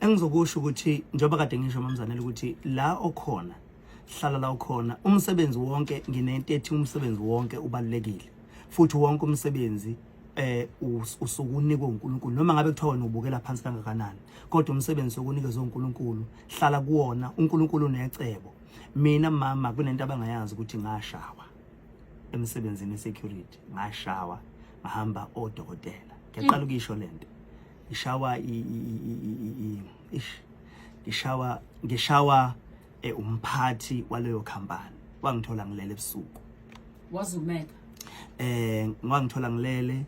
Engizokusho ukuthi njengoba kade ngisho mamzanele ukuthi la okhona hlala la ukhona umsebenzi wonke nginento ethi umsebenzi wonke ubalulekile futhi wonke umsebenzi eh usuku unikwe uNkulunkulu noma ngabe kuthiwa wena ubukela phansi kangakanani kodwa umsebenzi sokunikezwe uNkulunkulu hlala kuwona uNkulunkulu unecebo mina mama kunento abangayazi ukuthi ngashawa emsebenzini security ngashawa ngahamba odokotela ngiyaqala ukisho lento ngishawa ish ngishawa ngishawa eh, umphathi waleyo company wangithola ngilele ebusuku wazumeka eh ngangithola ngilele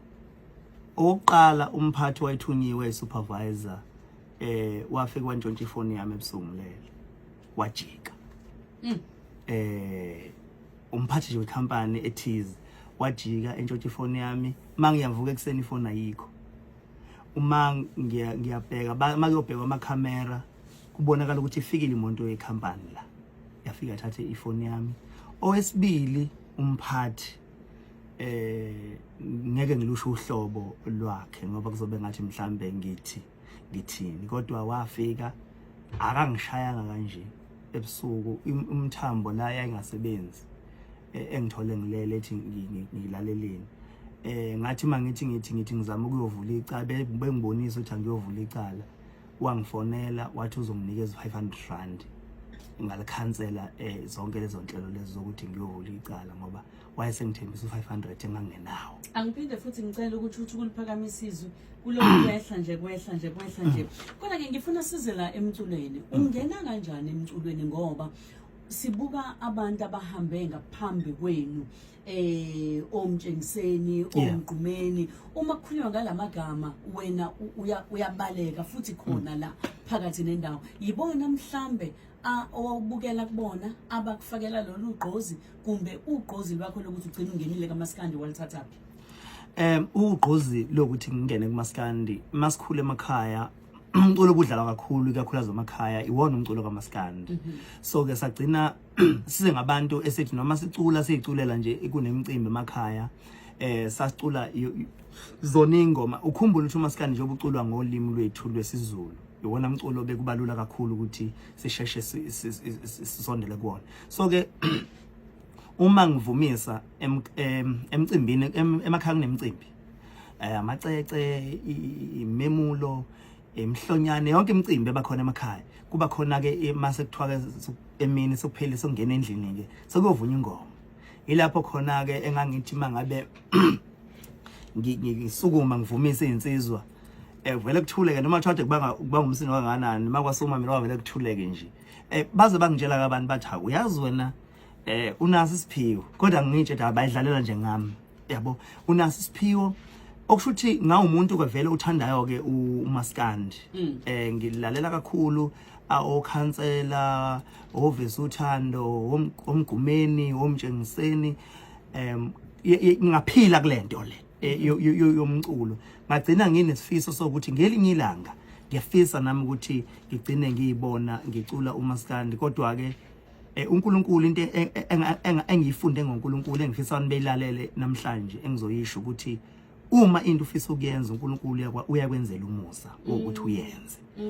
oqala umphathi wayithunyiwe supervisor eh wafika wantshontsha ifoni yami ebusuku ngilele wajika mm. eh umphathi nje wecompany ethize wajika entshontsha ifoni yami mangiyavuka ekuseni ifoni ayikho uma ngiyabheka uma kuyobhekwa amakhamera kubonakala ukuthi ifikile imoto yekhampani la yafika athathe ifoni yami owesibili umphathi eh ngeke ngilusho uhlobo lwakhe ngoba kuzobe ngathi mhlambe ngithi ngithini kodwa wafika akangishayanga kanje ebusuku umthambo la yayingasebenzi e, engithole ngilele ethi ngilaleleni eh ngathi mangithi ngithi ngithi ngizama ukuyovula icala bengibonisa ukuthi angiyovula icala wangifonela wathi uzonginikeza 500 rand ngalikhansela eh zonke lezo nhlelo lezi zokuthi ngiyovula icala ngoba wayesengithembisa u500 engangenawo angiphinde futhi ngicela ukuthi uthi kuliphakamisa izwi kulokhu kwehla nje kwehla nje kwehla nje kodwa ke ngifuna size la emculweni ungena kanjani emculweni ngoba sibuka abantu abahambe ngaphambi kwenu eh omtshengiseni omgqumeni uma kukhulunywa ngalamagama wena uyabaleka futhi khona la phakathi nendawo yibona mhlambe owawubukela kubona abakufakela lolu gqozi kumbe ugqozi lwakho lokuthi ugcina ungenile kamaskandi walithathaphi um ugqozi lokuthi ngingene kumaskandi masikhule emakhaya umculo obudlalwa kakhulu ikakhulukazi emakhaya iwona umculo kamaskandi mhm. so ke sagcina size ngabantu esithi noma sicula siyiculela nje kunemicimbi emakhaya eh sasicula zona ingoma ukhumbula ukuthi umaskandi njengoba uculwa ngolimi lwethu lwesiZulu iwona mculo bekubalula kakhulu ukuthi sisheshe sisondele kuwona so ke uma ngivumisa emcimbini emakhaya kunemicimbi eh, amacece imemulo emhlonyane yonke imicimbi ebakhona emakhaya kuba khona ke mase kuthiwa ke emini sokuphela sokungena endlini ke sokuyovunya ingoma ilapho khona ke engangithi mangabe ngisukuma ngivumise izinsizwa eh vele kuthuleke noma thathe kubanga kubanga umsini kanganani makwasuma mina wavele kuthuleke nje eh baze bangitshela kabantu bathi uyazi wena eh unasi siphiwo kodwa ngitshe ukuthi abayidlalela nje ngami yabo unaso isiphiwo okusho ukuthi ngawumuntu ke vele uthandayo ke umaskandi mm. eh ngilalela kakhulu okhansela ovisa uthando omgumeni omtshengiseni em ngaphila kulento le e, yomculo ngagcina nginesifiso sokuthi ngelinye ilanga ngiyafisa nami ukuthi ngigcine ngiyibona ngicula umaskandi kodwa ke Eh, uNkulunkulu into e, e, engiyifunde ngoNkulunkulu engifisa abantu beyilalele namhlanje engizoyisho ukuthi uma into ufisa ukuyenza uNkulunkulu uyakwenzela umusa ukuthi uyenze mm.